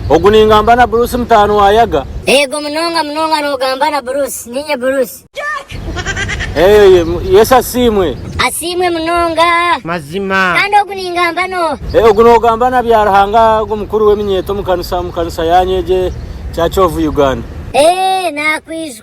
Ogu ningamba na Bruce mutaano wa Yaga. Eego munonga munonga nogamba na Bruce. Ninye Bruce. Eeh Yesu asiimwe. Asiimwe munonga. Mazima. Kandi ogu ningamba no. Eeh ogu nogamba na Byaruhanga ogu mukuru weminyeeto omu kanisa omu kanisa yanyu egi eya Kyovu Uganda. Eeh nakwiijwe.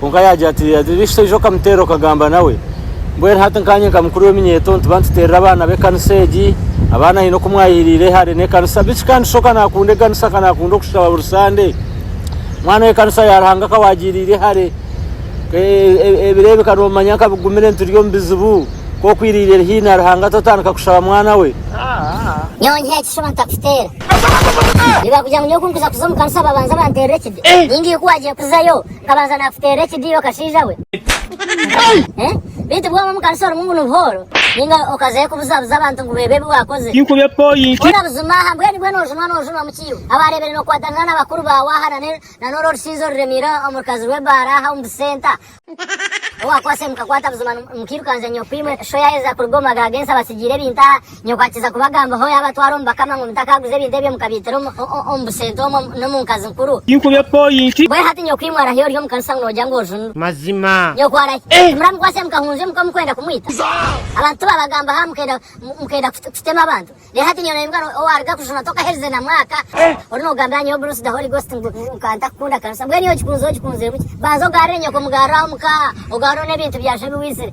Kwonka yaagira ati, Yaagira ati, Ishe okamuteera okagamba nawe. Mbwenu hati nkaanye nka mukuru w'eminyeeto nituba nituteerera abaana b'ekanisa egi. Abaana haine oku mwayeheriire hare n'ekanisa. Biiki ka Ishe ka naakunda ekanisa, ka naakunda okushaba buri sande. Mwana w'ekanisa ya Ruhanga ka waagiriire hare. Ebireebeka noomanya nka bigumire nituri omu bizibu. Ka okwiriire eri haihi na Ruhanga totandika kushaba mwana we. Nyowe nyiha ekishushani oba nitakuteera? Nibagira ngu nyowe ku nkuza kuza omu kanisa babanza banteerera ekide. Ninga iwe ku waagiire kuzayo. Nkabanza nakuteera ekidiiro kashaija we. Beitu bwoba omukanisa orimu ngu nibuhooro ninga okazayo kubuzabuza abantu ngu beebe ebi wakoze. Tinkubye point. Kora buzima aha mbwenu bwenu ojunwa nojunwa mukiiwe. Abarebire nokwatanisa na bakuru baawe aha na norwo orushinzi oruremiire omurukazi rw'ebaara aha omu busenta. Owakwasire mukakwata buzima mukirukangya nyokwa imwe sho yayeza kuruga omu maka g'ensi abatsigiire ebintu aha. Nyoko akiza kubagambaho yabatwara omu bakama ngu mutakaguza ebintu ebyo mukabiitira omu busente omwo n'omu nkazi nkuru. Tinkubye poyinti. Mbwenu hati nyoko imwe arahi ori omu kanisa ngu nogira ngu oju ni. Mazima. Nyoko arahi. Eh! Muramukwatse mukahunzya omuka mukwenda kumwita? Abantu tibabagambaho aha mukenda mukenda kutema abantu? Reero hati nyowe noimuka owaruga kujunwa tokaherize na mwaka ori nogambira nyowe Bruce the Holy Ghost ngu nkaatakukunda kanisa? Mbwenu iwe ogikunzire ogikunzire buki? Banza ogaarire nyoko mugarure aho omuka ogarure n'ebintu byaaju ebi waizire.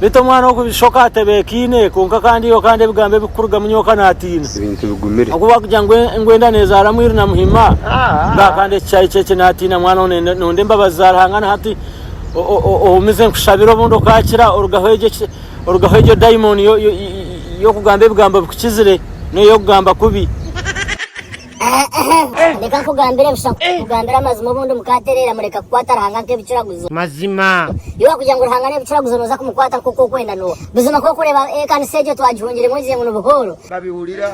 Beitu omwana ogu bishoka atebekaine kwonka kandi yo kandi ebigambo ebikurugamu nyoka natiina ahakuba kugira ngu enda nezaara mwiru na muhima ngaha kandi eki kyari kyekye natiina mwana ogu nonda embabazi za Ruhanga na hati ohumize nkushabira obundi okakira orugaho egyo dayimoni yokugamba ebigambo bikukizire noyokugamba kubi. Reka nkugambire busha nkugambire amazima obundi mukaatereera mureka kukwata Ruhanga nk'ebicuraguzo. Mazima. Yoba kugira ngu Ruhanga n'ebicuraguzo nooza kumukwata nk'oku okwenda Noa. Buzima ku orikureeba ekanisa egyo twagihungiremu ogize ngu ni buhooro.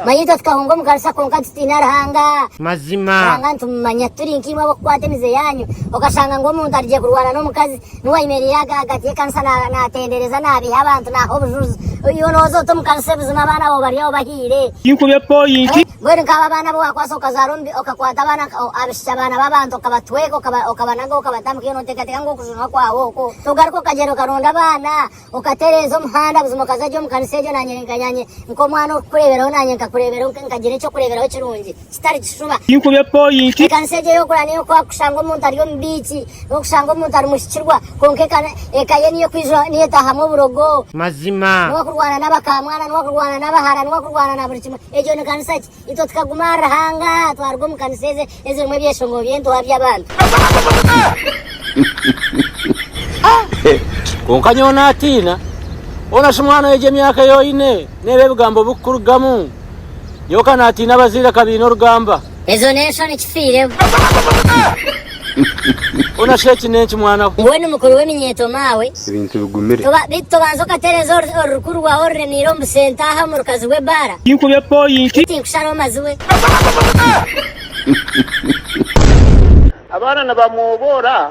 Manya itwe tukahunga omu kanisa kwonka tutaine Ruhanga. Mazima. Ruhanga nitumumanya. Turi nk'imwe ab'okukwata emize yaanyu. Okashanga ngu omuntu arugire kurwana n'omukazi. Noa ayemereire ahagati y'ekanisa naatendereza naabiiha abantu naaha obujuju. Iwe nooza ota omu kanisa buzima abaana baawe bari aho bahiire. Tinkubye poyinti. Mbwenu nk'abo abaana abu waakwatsa okazaara omu bi, okakwata abaana ka, o, abaishiki abaana b'abantu okabatweka, okaba, okabanaga, okabata mu kiina, oteekateeka ngu okujunwa kwawe okwo, togaruka okagyenda okaronda abaana, okatereeza omuhanda buzima okaza gye omu kanisa egyo naanye nka, naanye nk'omwana orikukureeberaho naanye nkakureeberaho nka, nkagira eky'okureeberaho kirungi kitari kishuba. Tinkube poyinti. Ekanisa egyo ey'okura niyo kushanga omuntu ari omu biiki, n'okushanga omuntu ari muhikirwa, kwonka eka, eka ye niyo kwijura, niyo etaahamu oburogo. Mazima. N'okurwana n'abakamwana, n'okurwana n'abahara, n'okurwana na buri kimwe. Egyo ni kanisa ki? Itwe tukaguma ahari Ruhanga twaruga omu kanisa ezi ezirimu ebyeshongoro by'entuha by'abantu. Kwonka nyowe naatiina, hoona shi mwana y'egi emyaka ei oine, n'ebi ebigambo birikukurugamu? Nyowe ka naatiina abazaire ka baine orugamba. Ezo n'enshoni kifiireho. Ona shi eki n'enki mwana we? Mbwenu mukuru w'eminyeeto maawe. Ebintu bigumire. Toba, beitu tobanza okatereeza oru, orurukuri rwawe oruremiire omu busenta aha omu rukazi rw'ebbaara? Tinkubye pointi. Ngu tinkusharaho mazi we. Abaana nibamwoboora.